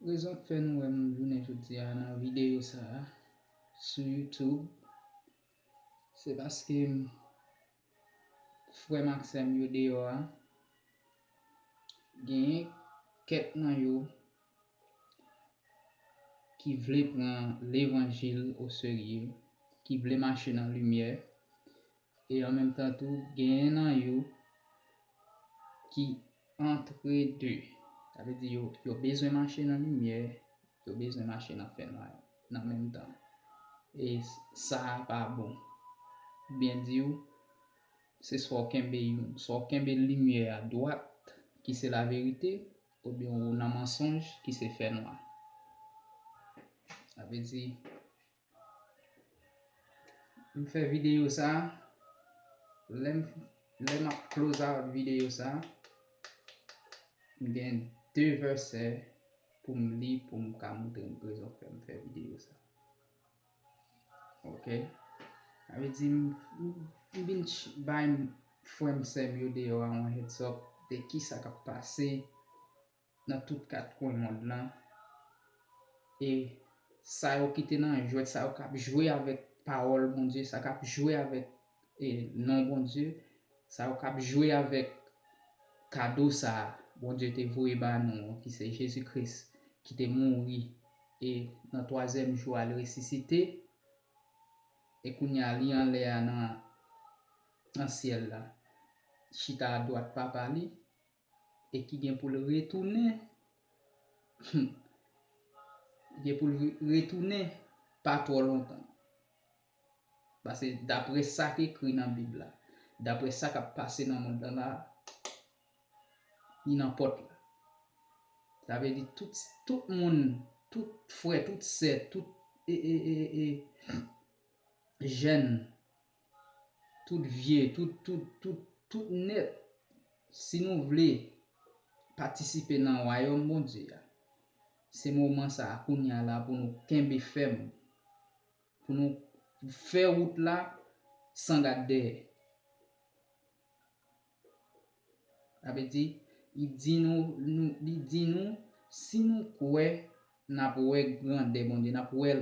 Rezon k fè nou wè m jounen jodi a nan videyo sa a sou YouTube se paske frè m ak sè m yo deyò a, genyen kèk nan yo ki vle pran levanjil oserye, ki vle mache nan limyè, E an menm tan tou genyen nan yo ki antre de. Sa vle di yo yo bezwen mache nan limyè, yo bezwen mache nan fènwa nan menm tan. E sa a pa bon. Pou byen di ou, se swa ou kenbe youn, swa ou kenbe limyè a dwat ki se laverite oubyen ou nan mansonj ki se fènwa. Sa vle di M fè videyo sa, lè m ap close out videyo sa, m gen 2 vèsè pou m li pou m ka montre n rezon fè m fè videyo sa. Ok, sa vle di m vin bay frè m sè m yo deyò a yon heads up de kisa k ap pase. nan tout kat kwen mond lan e sa yo ki te nan jwèt sa yo kap jwe avèk pawòl Bondye sa kap jwe avèk e non Bondye sa yo kap jwe avèk kado sa Bondye te voye ba nou an ki se Jezi Kris ki te mouri e nan twazyèm jou a li resisite e kounye a li anlè a nan nan syèl la chita adwat papa li. e ki gen pou l retounen humm gen pou l retounen pa twò lontan pase daprè sa k ekri nan bib la daprè sa k ap pase nan mond lan la li nan pòt la sa vle di tout tout moun tout frè tout sè tout e e e e jèn. tout vye, tout, tout, tout, tout nèt, si nou vle patisipe nan Wayòm Bondye a, se moman sa a kounye a la pou nou kenbe fèm, pou nou fè wout la san gad dèyè. Sa vle di, li di nou, li di nou, si nou kwè, n ap wè grandè Bondye, n ap wè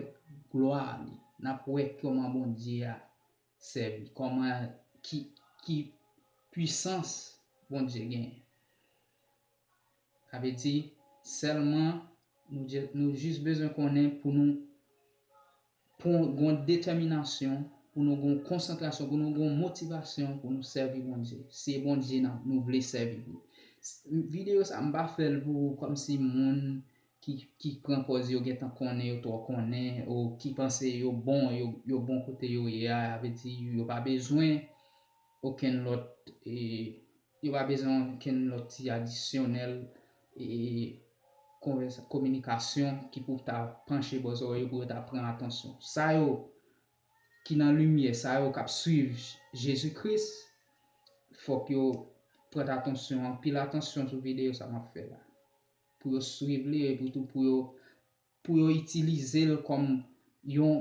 glwa li, n ap wè kòman Bondye a sèvi, kòman, ki, ki pwisans Bondye genyen. Sa vle di, sèlman, nou jis bezwen konnen pou nou. Pou n gon detèminasyon, pou nou gon konsantrasyon, pou nou gon motivasyon pou nou sèvi Bondye. Se Bondye nap nou vle sèvi wi. Video sa m pa fè l pou kòmsi moun ki ki pran pòz yo gentan konnen yo twò konnen o ki panse yo bon yo bon kote yo ye a vle di yo pa bezwen okenn lòt e Yo pa bezwen okenn lòt ti adisyonèl kominikasyon ki pou ta panche bò zòrèy yo pou yo ta pran atansyon. Sa yo ki nan limyè, sa yo k ap suiv Jezi Kris, fòk yo prèt atansyon, anpil atansyon sou videyo sa m ap fè la, pou yo suiv li epitou pou yo pou yo itilize l kòm yon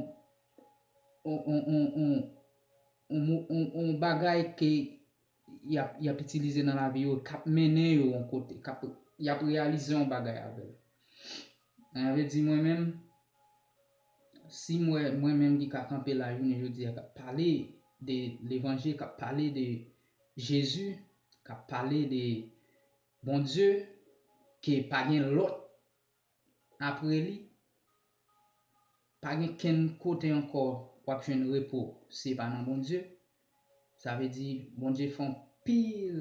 yon bagay ke y ap itilize nan lavi yo, k ap mennen yo yon kote, y ap reyalize yon bagay avè l. Sa vle di mwen menm, si m wè mwen menm ki ka kanpe la jounen jodi a k ap pale de levanjil, k ap pale de Jezi, k ap pale de Bondye, ke pa gen lòt apre li, pa gen kenn kote ankò w ap jwenn repo si e pa nan Bondye. Sa vle di, Bondye fè yon pil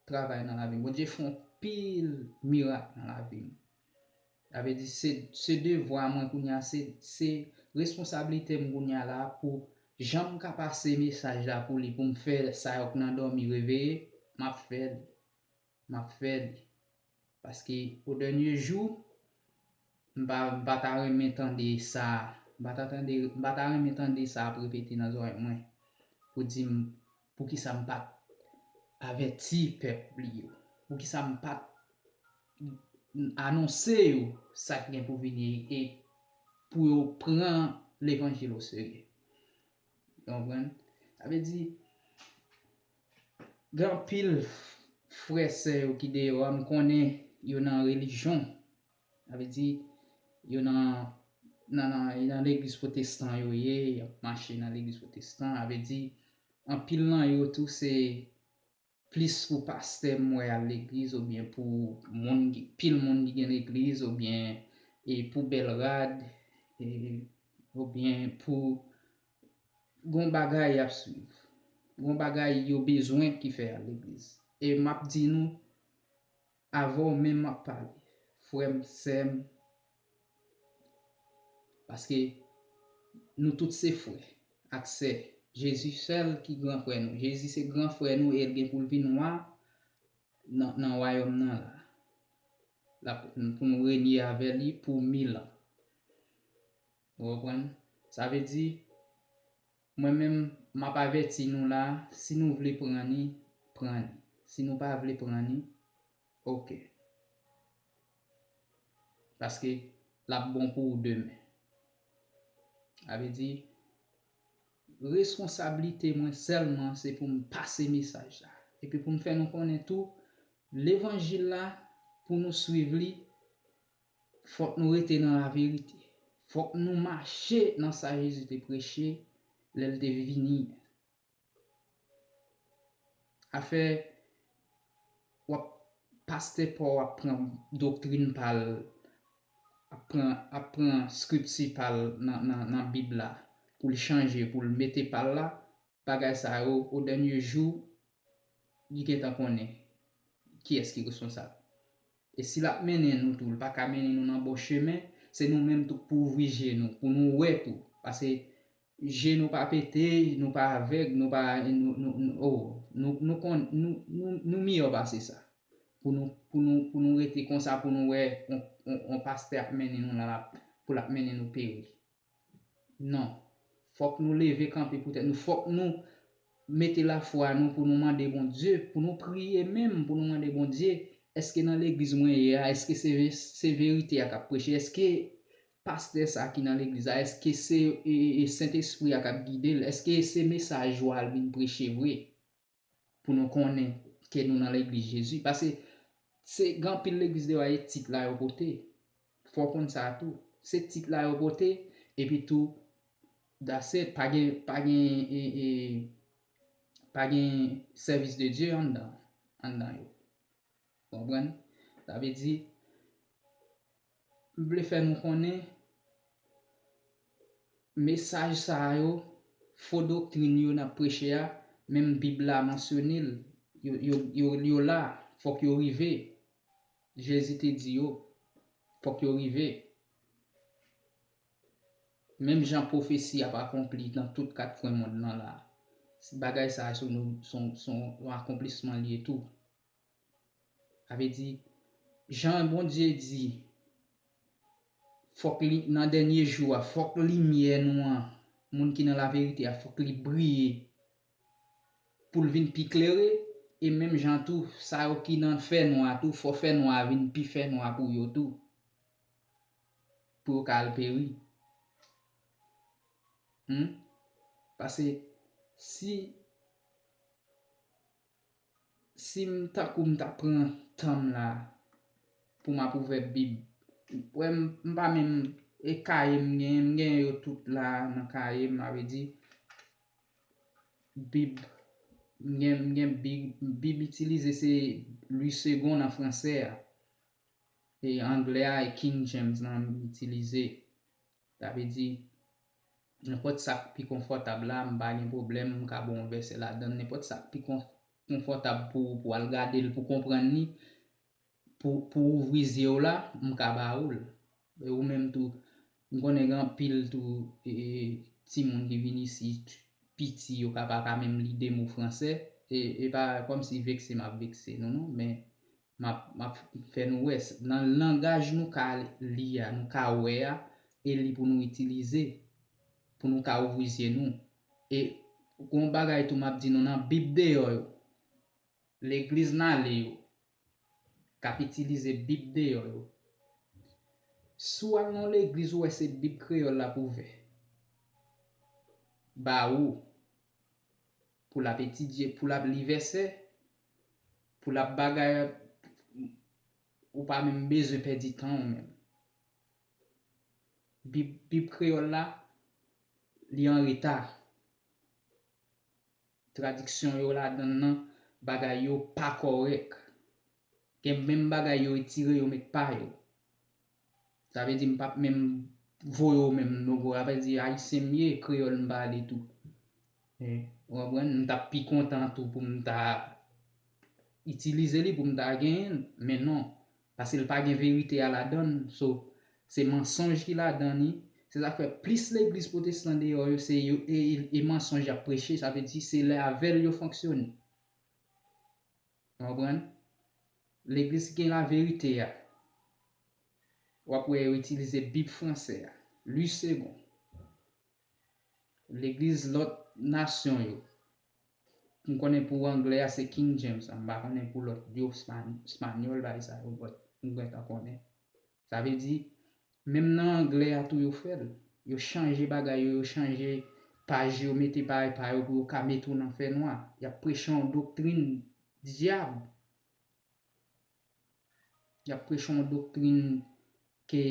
travay nan lavi m. Bondye fè yon pil mirak nan lavi m. Sa vle di, se devwa mwen kounye a, se responsablite m kounye a la pou jan m ka pase mesaj la pou li, pou m fè sa yo k nan dòmi reveye, m ap fè li. m ap fè li. Paske o dènye jou, m pa m pa ta renmen tande sa m pa ta tande m pa ta renmen tande sa ap repete nan zòrèy mwen pou di m poukisa m pa t avèti pèp li yo, poukisa m pa t anonse yo sa k gen pou vini e pou yo pran levanjil oserye. Nou konprann? Sa vle di. Gen anpil frè sè yo ki deyò a m konnen yo nan relijyon sa vle di yo nan nan legliz potestan yo ye yap mache nan legliz potestan sa vle di anpil nan yo tou se plis pou pastè m wè al legliz oubyen pou moun pil moun ki gen legliz oubyen pou bèl rad oubyen pou Gon bagay yap swiv. Gon bagay yo bezwen ki fè al legliz. E map di nou avè w menm map pale frè m sè m paske nou tout se frè ak sè Jezi sèl ki gran frè nou Jezi se gran frè nou e l gen pou l vin wa nan wayòm nan la pou nou renye avè li pou mil an. Ou konprann? Sa vle di, mwen menm, m ap avèti nou la, si nou vle pran ni, pran ni. Si nou pa vle pran ni, ok. Paske, l ap bon pou ou demen. Sa vle di, reskonsablite mwen sèlman se pou m pase mesaj la. Epi pou m fè nou konnen tou, levanjil la, pou nou swiv li, Fòk nou rete nan laverite. Fòk nou mache nan sa Jezi te preche lè l te vini an. Afè w ap pastè pa w ap pran doktrin pa l, ap pran Skripti pa l nan Bib la pou l chanje, pou l mete pa l la, bagay sa yo odènye jou li gentan konnen kiyès ki responsab. E si l ap mennen nou tou, li pa ka mennen nou nan bon chemen, se nou menm tou k pou ouvri je nou, pou nou wè tou. Pase je nou pa pete, nou pa avèg, nou pa, oh, nou kon, nou miyò pase sa. Pou nou, pou nou, pou nou rete konsa pou nou wè yon pastè ap mennen nou la pou l ap mennen nou peri. Non. Fòk nou leve kanpe pou tèt nou, fòk nou mete lafwa nou pou nou mande Bondye, pou nou priye menm pou nou mande Bondye, èske nan legliz mwen ye a, èske se verite a k'ap preche, èske pastè sa ki nan legliz la, èske se Sentespri a k'ap gide l', èske se mesaj yo al vin preche vre? pou nou konnen ke nou nan legliz Jezi. Pase se gen anpil legliz deyò a e tit la yo pote. Fò w konn sa a tou. Se tit la yo pote, epi tou that's it. Pa gen, pa gen e, e, pa gen sèvis de Dye anndan, anndan yo. Ou konprann? Sa vle di, m vle fè nou konnen, mesaj sa yo, fo doktrin yo n ap preche a, menm Bib la mansyone l, yo la, fòk yo rive. Jezi te di yo, fòk yo rive. Menm jan pwofesi ap akonpli nan tout kat kwen mond lan la, bagay sa a se yon akonplisman l ye tou. Sa vle di, jan Bondye di, fòk li, nan dènye jou a, fòk limyè nou an, moun ki nan laverite a, fòk li briye, pou l vin pi klere, e menm jan tou, sa yo ki nan fènwa tou, fò fènwa a vin pi fènwa pou yo tou, pou yo ka al peri. Humm. Pase, si. Sim tankou m ta pran tanm la poum ap ouvè bib ou wè m pa menm e kaye m genyen m genyen yo tout la nan kaye m avè di bib m gen m gen big bib itilize se lwi segon nan fransè a e anglè a e king James lan m itilize Sa vle di, nenpòt sa k pi konfòtab la, m pa gen pwoblèm, m ka ba w yon vèsè ladan l. Nenpòt sa k pi konfòtab pou ou pou w al gade l, pou w konprann li, pou w ouvri zye w la, m ka ba ou l. E ou menm tou, m konnen gen anpil tou timoun ki vin isit piti, yo ka pa ka menm li de mo franse. E pa kòmsi vekse m ap vekse nou non, men map map fè nou wè nan langaj nou ka li a nou ka wè a e li pou nou itilize pou nou ka ouvri zye nou e gon yon bagay tou map di nou nan bib deyò yo legliz nale yo kap itilize bib deyò yo si w al nan yon legliz ou wè se bib kreyòl lap ouvè ba ou. Pou l ap etidye, pou l ap li vèsè, pou l ap bagay, ou pa menm bezwen pèdi tan ou menm. Bib, Bib kreyòl la, li an reta. Tradiksyon yo ladan l lan, bagay yo pa kòrèk. Gen menm bagay yo etire yo met pa yo. Sa vle di m pap menm voye w menm non bro. Sa vle di ayisyen m ye, kreyòl m pale tou. Ou konprann? M t ap pi kontan tou pou m ta itilize li, pou m ta genyen l, men non. Paske l pa gen verite a ladan l. So, se mansonj ki ladan li. Se sa k fè plis legliz pwotestan deyò yo se e mansonj y ap preche. Sa vle di se lè avè l yo fonksyone. Ou konprann? Legliz ki gen laverite a, w ap wè yo itilize Bib franse a, Louis Segond. Legliz lòt nasyon yo, m konnen pou angle a se King James, m pa konnen pou lòt yo, espanyòl bagay sa yo, m gen tan konnen. Sa vle di, menm nan anglè a tou yo fè l. Yo chanje bagay yo, yo chanje paj yo, mete bagay pa yo pou yo ka mete w nan fè nwa. Y ap preche yon doktrin dyab. Y ap preche yon doktrin ke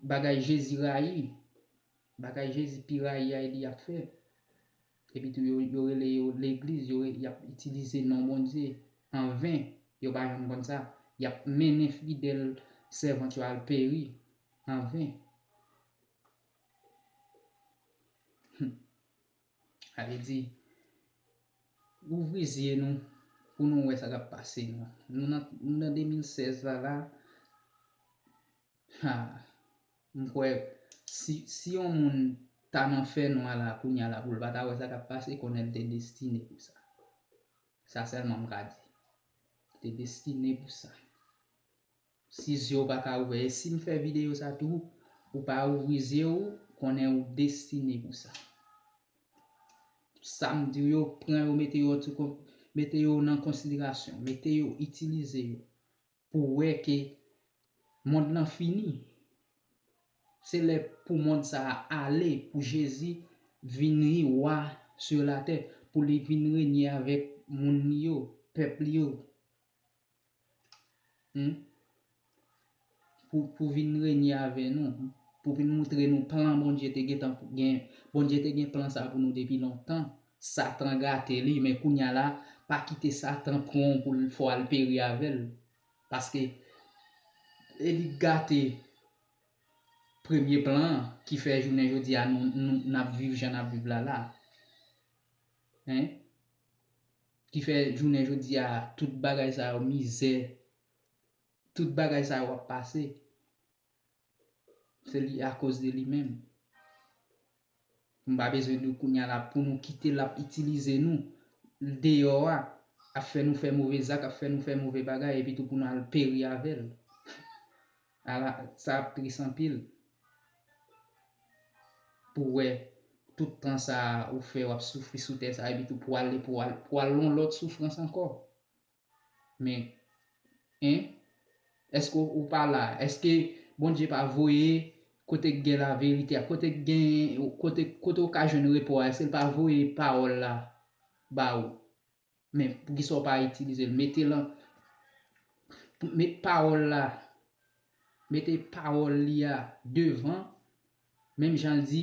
bagay Jezi rayi, bagay Jezi pi rayi a li y ap fè. Epi tou yo rele yo legliz yo yap itilize non Bondye an ven yo pa janm konn sa yap mennen fidèl sèvant yo al peri an ven humm sa vle di ouvri zye nou pou nou wè sa kap pase nou nan 2016 la la. Haa m kwè si si yon moun ta nan fè nwa la kounya la poul pata wè sa kap pase konnen l te destine pou sa sa sèlman m ka di li te destine pou sa si zye w paka ouvè e sim fè videyo sa tou ou pa ouvri zye w konnen ou destine pou sa sam diw yo pran yo mete yo mete yo nan konsiderasyon mete yo itilize yo. pou wè ke mond lan fini. Se lè pou mond sa a ale, pou Jezi vin ri Wa sur la tè, pou li vin renye avèk moun li yo, pèp li yo. Hum. Pou pou vin renye avè nou, pou vin moutre nou plan Bondye te gentan gen, Bondye te gen plan sa a pou nou depi lontan. Satan gate li men kounya la pa kite satan pranw poul fè w al peri avèl paske e li k gate premye plan an ki fè jounen jodi a nou nap viv jan nap viv la la hein ki fè jounen jodi a tout bagay sa yo mizè tout bagay sa yo ap pase. Se li a koz de li menm. Nou pa bezwen nou kounya la pou nou kite lap itilize nou deyò a, ap fè nou fè move zak, ap fè nou fè move bagay epi tou pou nou al peri avèl. Ala sa ap tris anpil. Pou wè tout tan sa ou fè wap soufri sou tè sa epi tou pou ale pou al pou al lon lòt soufrans ankò. Men Hein Eske ou pa la Eske Bondye pa voye Kote k gen la verite a Kote k gen Kote Kote ou ka jwenn repo a Eske l pa voye pawòl la Ba ou Men poukisa ou pa itilize l Mete lan Met pawòl la Mete pawòl li a Devan Menm jan l di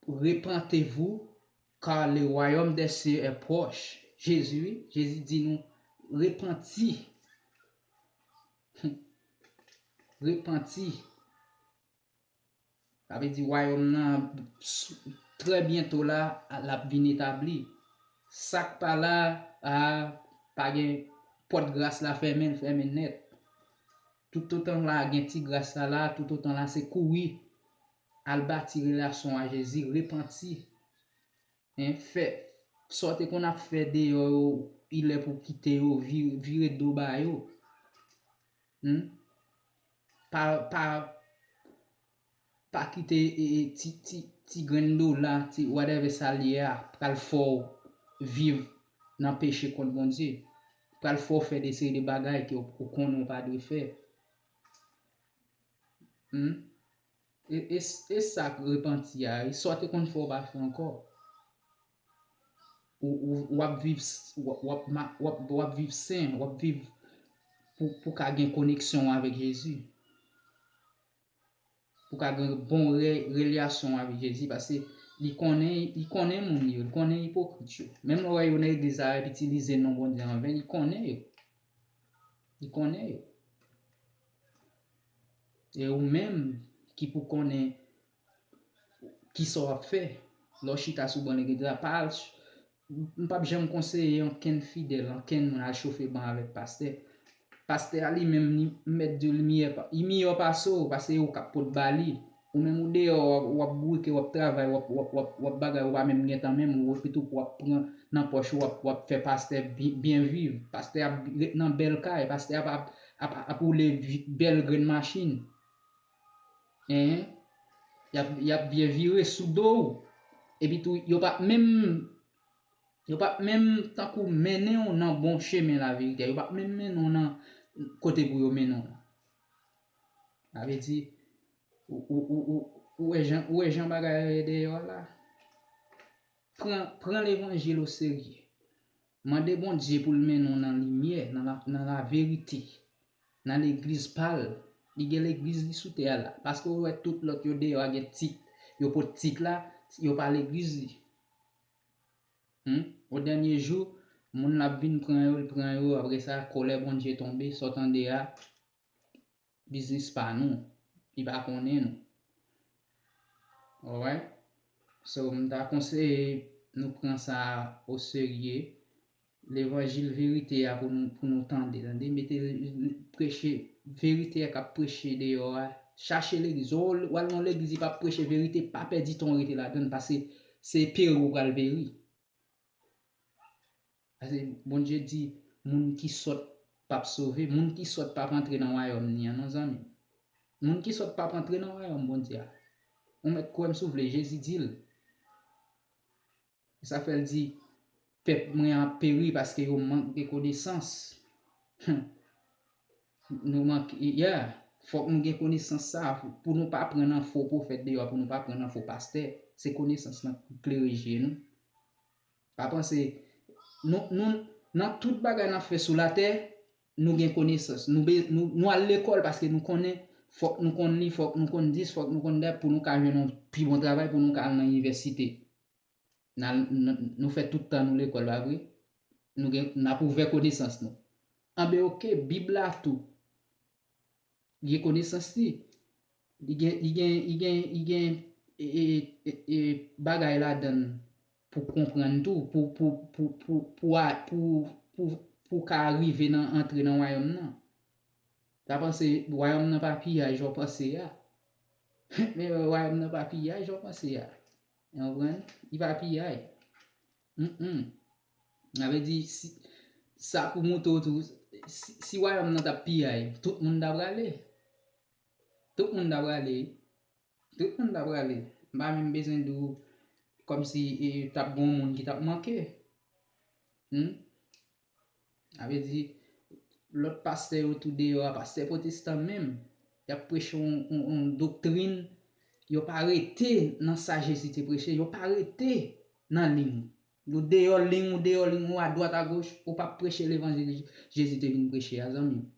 Repentez vous Car le royaume des cieux est proche Jezi wi Jezi di nou repanti repanti sa vle di wayòm nan trè byento la lap vin etabli sak pa la a pa gen pòt gras la fèmen l fèmen nèt. Toutotan la gen ti gras la la toutotan la se kouri al bati relasyon a Jezi repanti hein fè sa w te konn ap fè deyò yo ilè pou w kite yo vire do ba yo humm pa pa Pa kite ti grenn dola, ti whatever sa l ye a pral fè w viv nan peche kont Bondye. Pral fè w fè de seri de bagay ke ou konnen ou pa dwe fè. Humm. E sa k repanti a, e sa w te konn fè ou pa fè ankò. Ou ap viv sen, ou ap viv pou ka gen koneksyon ou avèk Jezi. pou ka gen bon relyasyon avk jezi paske li konnen li konnen moun li yo li konnen ipokrit yo menm lè wè yo nan egliz la yo ap itilize non Bondye anven li konnen yo li konnen yo e ou menm ki pou konnen kisa wap fè lè w chita sou ban legliz la pa al M pap janm konseye ankenn fidèl, ankenn moun al chofe ban avèk pastè. Pastè a li menm li mèt di w li miyè pa, li miyò pase w pase e w kap pot ba li. Ou menm ou deyò w ap bourike w ap travay w ap w ap w ap w ap bagay ou pa menm gentan menm ou e pito pou w ap pran nan pòch ou w ap w ap fè pastè byen viv. Pastè ap ret nan bèl kay, pastè ap ap ap ap woule bèl grenn machin. Enh yap yap byen vire sou do w epi tou yo pap menm yo pap menm tankou mennen w nan bon chemen laverite a yo pap menm mennen w nan kote pou yo mennen w lan sa vle di ou wè jan bagay yo ye deyò la pran pran levanjil oserye. Mande Bondye pou l mennen w nan limyè, nan laverite, nan legliz pa l. Li gen legliz li sou tè a la. Paske ou wè tout lòt yo deyò a gen tit, yo pot tit la, yo pa legliz li. Humm, o dènye jou, moun la ap vin pran yo, l pran yo, apresa, kolè Bondye tonbe, sa w tande a, biznis pa nou li pa konnen nou alright so m ta konseye nou pran sa o serye levanjil verite a pou nou tande tande mete preche verite a kap preche deyò a chache legliz o wal nan legliz li pa preche verite pa pèdi tan w rete ladann pase se peri w pral peri. Pase Bondye di moun ki sòt pap sove, moun ki sòt pap antre nan wayòm ni an non zanmi. Moun ki sòt pap antre nan wayòm Bondye a. Ou mèt kwè m si w vle, Jezi di l. Sa fè l di, pèp mwen an ap peri paske yo mank de konesans. Hum. Nou manke, yeah, fòk nou gen konesans sa a pou nou pa pran nan fo pwofèt deyò, pou nou pa pran nan fo pastè. Se konesans lan pou klere je nou. Pa panse, nou, nou, nan tout bagay n ap fè sou latè, nou gen konesans. Nou be, nou, nou al lekòl paske nou konnen, fòk nou konn li, fòk nou konn dis, fòk nou konn dat pou nou ka jwenn yon pi bon travay, pou nou ka al nan inivèsite. Nou fè tout tan nou lekòl, pa vre? N ap ouvè konesans nou. Anben oke, Bib la tou gen konesans li. Li gen bagay ladan l pou konprann tou, pou w ka rive nan antre nan wayòm nan. Pa panse wayòm nan pa piyay jan w panse a. Men wayòm nan pa piyay jan w panse a. Nou konprann? Li pa piyay. Humm. Sa vle di, sa pou moutre w tou, si wayòm nan t ap piyay, tout moun ta prale. Tout moun ta prale. Tout moun ta prale. M pa menm bezwen di w kòmsi t ap gen yon moun ki t ap manke. Humm. Sa vle di, lòt pastè yo tou deyò a, pastè potestan menm, y ap preche yon doktrin, yo pa rete nan sa Jezi te preche, yo pa rete nan ling. Yo deyò ling, ou deyò ling ou, adwat agoch, ou pa preche levanjil Jezi te vin preche a zanmi m.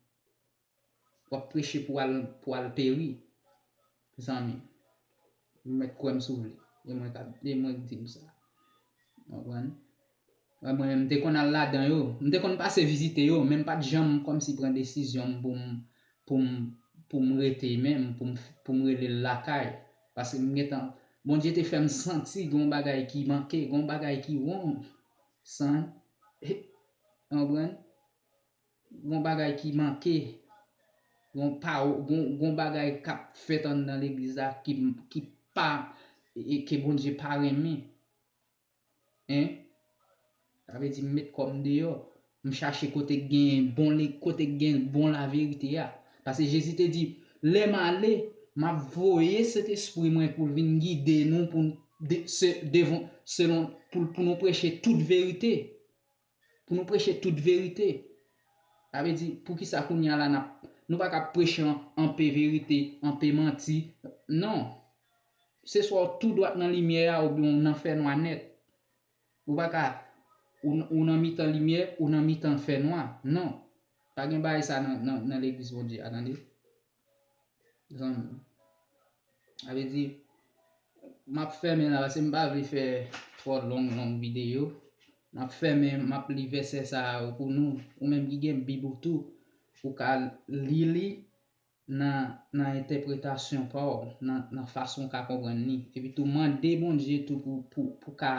wap preche pou al pou al peri zanmi ou mèt kwèm si w vle e mwen kap e mwen k di w sa ou konprann wè mwen menm m te konn al ladan yo m te konn pase vizite yo men m pat janm kòmsi pran desizyon m pou m pou m pou m rete menm pou m pou m rele l lakay paske m gentan Bondye te fè m santi gon bagay ki manke gon bagay ki wrong san ou konprann. Gon bagay ki manke, gon pawo, gon, gon bagay k'ap fèt anndan legliz la ki, ki pa, e ke Bondye pa renmen. Hein? Sa vle di m met kò m deyò, m chache kote k gen bon le, kote k gen bon laverite a. Pase Jezi te di, Lè m ale, m'ap voye Sentespri mwen pou l vin gide nou pou n, de, se, devon, selon, pou l, pou nou preche tout verite. pou nou preche tout verite. Sa vle di, poukisa kounye a la n ap, nou pa ka preche anpe verite, anpe manti? Non. Se swa w tou dwat nan limyè a oubyen w nan fènwa nèt. Ou pa ka, ou nan mitan limyè, ou nan mitan fènwa. Non. Pa gen bagay sa nan Legliz Bondye a, tande. Zan. A ve di map fèmen la se m pa vle fè trò long long videyo. Map fèmen map li vèsè sa a yo pou nou. Ou menm ki gen bib ou tou ou ka li li nan nan entèpretasyon pa w nan nan fason ou ka konprann li. Epi tou mande Bondye tou pou pou pou ka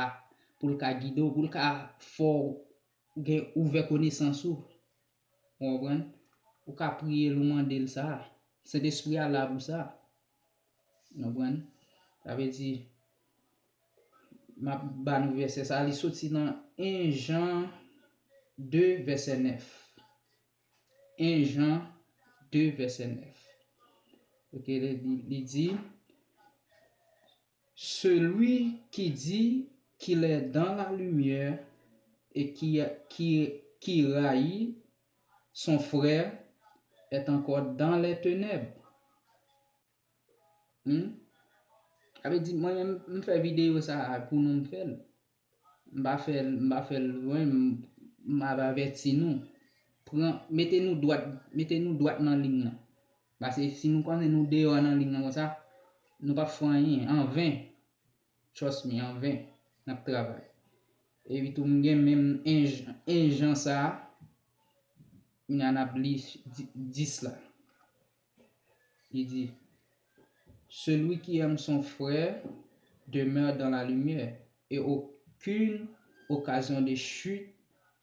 pou l ka gide w pou l ka fè w gen ouvè konesans ou. Ou konprann? Ou ka priye l ou mande l sa. Sentespri a la pou sa. Ou konprann? Sa vle di, m ap ba nou vèsè sa a, li soti nan 1 Jan 2 vèsè 9. 1 Jan 2 vèsè 9. Ok, li di. Celui qui dit qu'il est dans la lumière et qui qui qui rayit son frère est encore dans les tenèbres Humm sa vle di mwen menm m fè video sa a pou nou m fèl. M pa fè l, m pa fè l lwen, m ap avèti nou. Pran, mete nou dwat, mete nou dwat nan lig nan. Pase si nou konnen nou deyò nan lig nan konsa, nou pap fè anyen, an ven. Trust me, an ven, n ap travay. Epi tou m gen menm 1 jan, 1 jan sa a, kounya n ap li 10 la. Li di, Celui qui aime son frère demeure dans la lumière, et aucune occasion de chute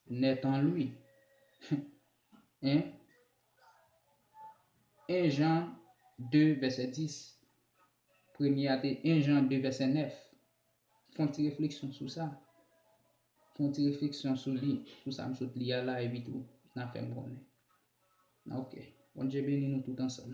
n'est en lui. Hum! 1 Jan 2 vèsè 10 Premye a te 1 Jan 2 vèsè 9. Fè yon ti refleksyon sou sa. Fè yon ti refleksyon sou li, sou sa m sot li a la epi tou n ap fè m konnen. Ok. Bondye beni nou tout ansanm.